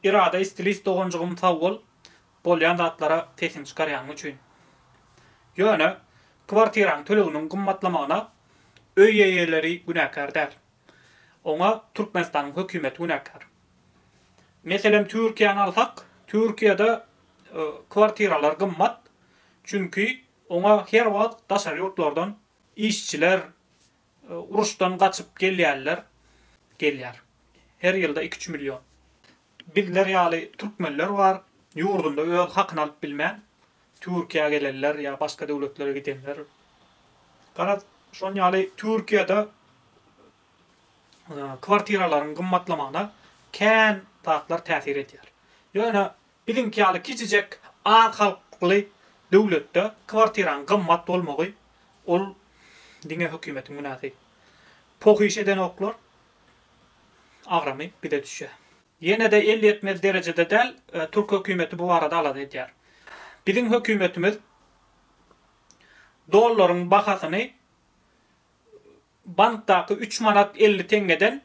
Irada stilist doganjygym sag bol bolýan zatlara sesiň çykarýanyň üçin. Ýöne kwartiraň töleginiň gymmatlamagyna öý eýeleri günäkär däl. Oňa Türkmenistanyň hökümeti günäkär. Meselem Türkiýäni alsak, Türkiýede kwartiralar gymmat, çünki oňa her wagt daşary ýurtlardan işçiler Uruşdan gaçyp gelýänler gelýär. Her ýylda iki-üç million. Bizler ýaly türkmenler bar, ýurdunda öz hakyny alyp bilmän, Türkiýä gelenler ýa başga döwletlere gidenler. Garaz, şon ýaly Türkiýede kwartiralaryň gymmatlamagyna kän zatlar täsir edýär. Ýöne Biziňki ýaly kiçijek az halkly döwletde kwartiraň gymmat bolmagy ol diňe hökümetiň günäsi. Pohyş edenoklar agramy bize düşýär. Ýene-de el ýetmez derejede däl, türk hökümeti bu barada alada edýär. Biziň hökümetimiz dollaryň bahasyny Bankdaky üç manat elli teňňeden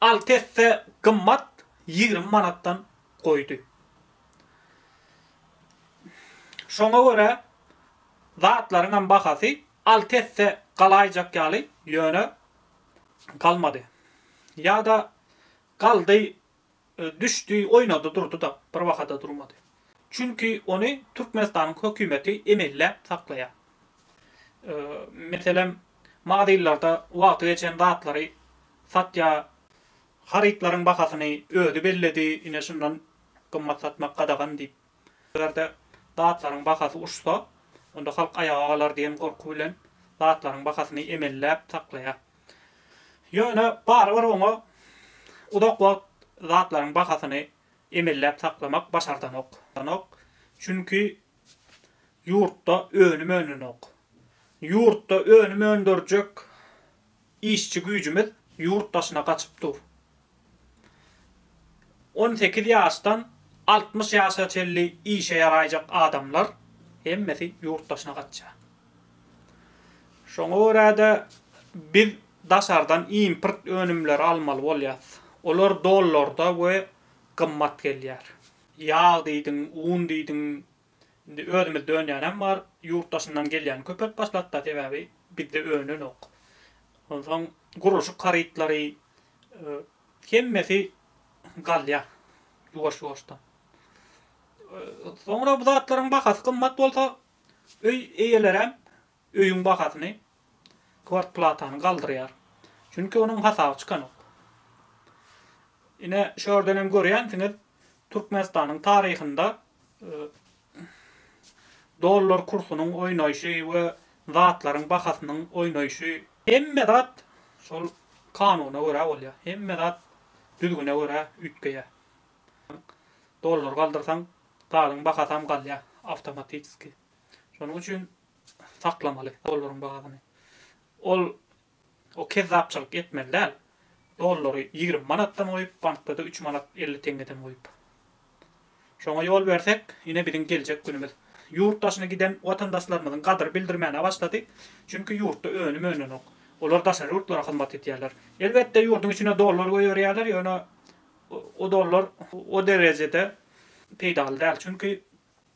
alty esse gymmat ýigrimi manatdan goýdy. Şoňa görä zatlaryňam bahasy alty esse galaýjak ýaly, ýöne galmady. Ýa-da galdy, Düşdi, oýnady, durdy-da, bir bahada durmady. Çünki ony Türkmenistanyň hökümeti emelläp saklaýar. Meselem, magazynlarda wagty geçen zatlary satýar, harytlaryň bahasyny özi belledi, ine şundan gymmat satmak gadagan diýip. Eger-de zatlaryň bahasy uçsa, onda halk aýaga galar diýen gorky bilen zatlaryň bahasyny emelläp saklaýar. Ýöne barybir oňa uzak wagt zatlaryň bahasyny emelläp saklamak başardanok. Çünki ýurtda önüm önenok. Ýurtda önüm öndürjek Işçi güýjümiz ýurt daşyna gaçyp dur. On sekiz ýaşdan altmyş ýaşa çenli işe ýaraýjak adamlar hemmesi ýurt daşyna gaçýar. Şoňa görä-de, biz daşardan import önümleri almaly bolýarys. Olar dollarda we gymmat gelýär. Ýag diýdiň, un diýdiň, Indi özümiz dönýänem bar, ýurt daşyndan gelýän köpelip başlapda sebäbi bizde önenok. Onsoň gurluşyk harytlary hemmesi galýa ýuwaş-ýuwaşdan. Soňra bu zatlaryň bahasy gymmat bolsa öý eýeleräm Öýüň bahasyny kwartplatany galdyrýar. Çünki onuň hasaby çykanok. Ine, şu ýerden hem görýänsiňiz, Türkmenistanyň taryhynda dollar kursunyň oýnaýşy we zatlaryň bahasynyň oýnaýşy. Hemme zat şol kanuna görä bolýar. Hemme zat düzgüne görä üýtgeýär. Dollary galdyrsaň, zadyň bahasy hem galýar awtomatiski. Şonuň üçin saklamaly dollaryň bahasyny. Ol o kezzapçylyk etmeli däl. Dollary ýigrimi manatdan goýup, bankda-da üç manat elli teňňeden goýup. Şoňa ýol bersek, ine biziň geljek günümiz. Ýurt daşyna giden watandaşlarymyzyň gadyr bildirmäne başlady. Çünki ýurtda önüm önenok. Olar daşary ýurtlara hyzmat edýärler. Elbetde ýurduň içine dollar goýberýärler, ýöne o dollar o derejede peýdaly däl. Çünki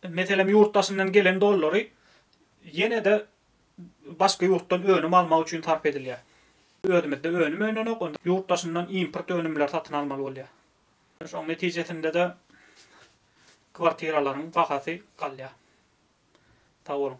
Meselem, ýurt daşyndan gelen dollary ýene-de başga ýurtdan önüm almak üçin sarp edilýär. Özümizde önüm önenok, onda ýurt daşyndan import önümleri satyn almaly bolýar. Şoň netijesinde-de kwartiralaryň bahasy galýar. Sag boluň.